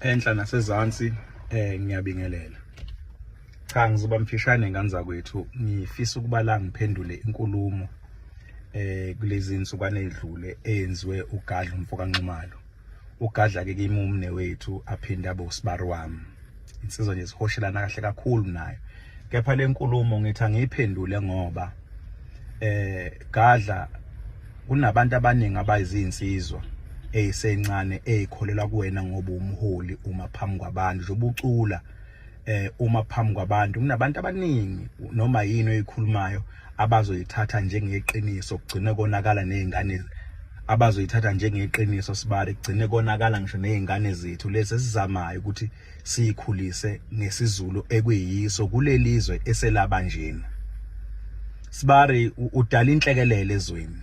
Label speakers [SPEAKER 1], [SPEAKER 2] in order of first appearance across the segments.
[SPEAKER 1] enhla nasezansi eh ngiyabingelela cha ngizoba mfishane nganza kwethu ngifisa ukuba la ngiphendule inkulumo eh kulezi insukwane edlule eyenziwe ugadla umfokanxumalo ugadla ke kimumne wethu aphinde abe usibari wami insizwa nje sihoshelana kahle kakhulu nayo kepha lenkulumo ngithi angiyiphendule ngoba eh gadla kunabantu abaningi abayizinsizwa eyisencane eyikholelwa kuwena ngoba umholi uma phambi kwabantu nje ubucula eh uma phambi kwabantu kunabantu abaningi noma yini oyikhulumayo abazoyithatha njengeqiniso kugcine konakala nezingane abazoyithatha njengeqiniso sibari kugcine konakala ngisho nezingane zethu lezi esizamayo ukuthi siyikhulise ngesizulu ekuyiso kulelizwe eselaba njena sibari udala inhlekelele ezweni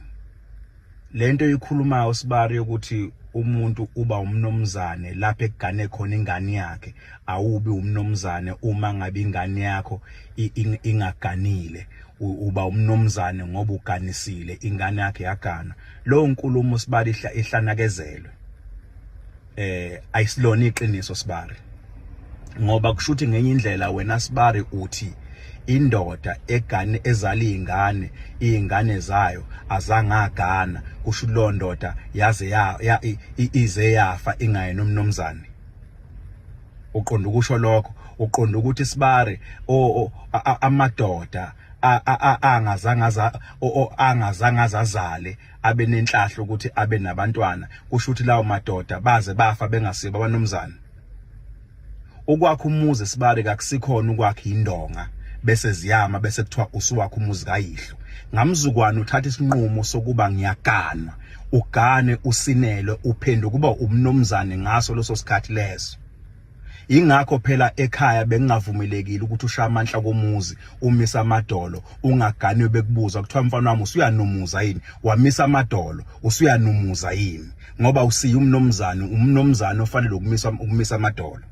[SPEAKER 1] lento ikhuluma usibari yokuthi umuntu uba umnomzane lapho ekugane khona ingane yakhe awubi umnomzane uma ngabe ingane yakho ingaganile uba umnomzane ngoba uganisile ingane yakhe yagana lowo nkulumo sibali ihlanakezelwe eh ayisilona iqiniso sibari ngoba kushuthi ngenye indlela wena sibari uthi indoda egane ezala izingane izingane zayo azangagana kusho lo ndoda yaze ya ize yafa ingaye nomnomzane uqonda ukusho lokho uqonda ukuthi sibari amadoda angazangaza angazangaza azale abe nenhlahla ukuthi abe nabantwana kusho ukuthi lawo madoda baze bafa bengasiba abanomzana ukwakha umuzi sibale kakusikhona ukwakha indonga bese ziyama bese kuthiwa usuwakha umuzi kayihlo ngamzukwana uthatha isinqumo sokuba ngiyaganwa ugane usinelwe uphenduka kuba umnomzane ngaso leso sikhathi leso ingakho phela ekhaya bengingavumelekile ukuthi ushaya amanhla komuzi umisa amadolo ungaganwe bekubuza kuthiwa mfana wami usuyanumuza yini wamisa amadolo usuyanumuza yini ngoba usiya umnomzane umnomzane ofanele ukumisa ukumisa amadolo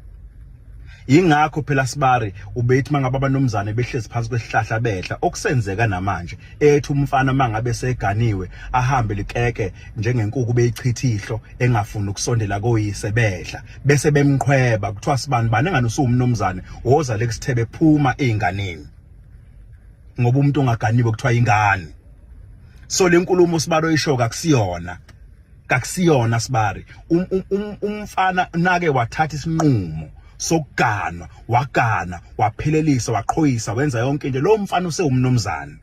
[SPEAKER 1] ingakho phela sibari ubethi mangabe abanomzane behlezi phansi kwesihlahla bedla okusenzeka namanje ethi umfana mangabe seganiwe ahambe likeke njengenkuku beyichithihlo engafuni ukusondela koyise bedla bese bemqhweba kuthiwa sibani bani engane usuwumnomzane woza lekusithebe phuma einganeni ngoba umuntu ongaganiwe kuthiwa ingane so lenkulumo sibalo isho kakusiyona kakusiyona sibari um, um, um, umfana nake wathatha isinqumo sokuganwa wagana waphelelisa waqhoyisa wenza yonke into lo mfana usewumnomzane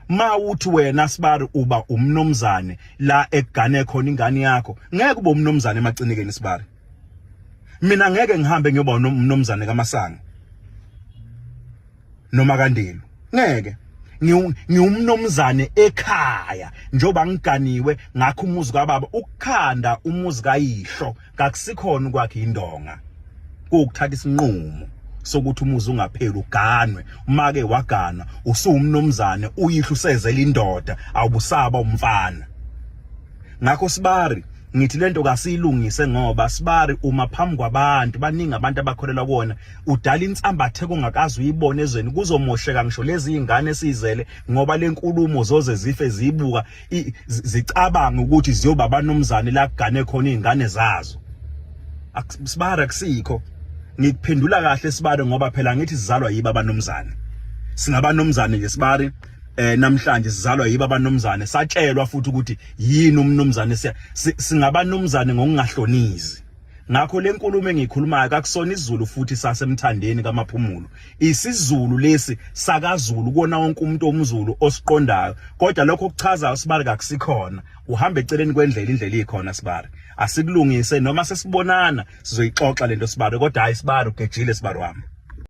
[SPEAKER 1] mawuthi wena sibari uba umnomzane la egane khona ingane yakho ngeke ube umnomzane emacinikeni sibari mina ngeke ngihambe ngiyoba umnomzane kamasanga noma kandelu ngeke ngiwumnomzane ekhaya njengoba ngiganiwe ngakho umuzi kababa ukukhanda umuzi kayihlo kakusikhona ukwakhe indonga kuwukuthatha isinqumo sokuthi umuzi ungapheli uganwe umake wagana usuwumnomzane uyihlo usezela indoda awubusaba umfana ngakho sibari ngithi lento kasiyilungise ngoba sibari uma phambi kwabantu baningi abantu abakholelwa kuona udala insambathe kongakazi uyibone ezweni kuzomosheka ngisho lezi ingane esizele ngoba lenkulumo zoze zife zibuka zicabanga ukuthi ziyoba abanomzane la kugane khona izingane zazo sibara kusikho ngikuphendula kahle sibare ngoba phela ngithi sizalwa yiba abanomzane singabanomzane nje sibari eh namhlanje sizalwa yiba abanomzane satshelwa futhi ukuthi yini umnomzane siya singabanumzane ngokungahlonizi Ngakho lenkulumo engikhulumayo kakusona isiZulu futhi sasemthandeni kaMaphumulo. IsiZulu lesi sakaZulu kona wonke umuntu omZulu osiqondayo. Kodwa lokho kuchaza uSibari kakusikhona. Uhamba eceleni kwendlela indlela ikhona Sibari. Asikulungise noma sesibonana sizoyixoxa lento Sibari kodwa hayi Sibari ugejile Sibari wami.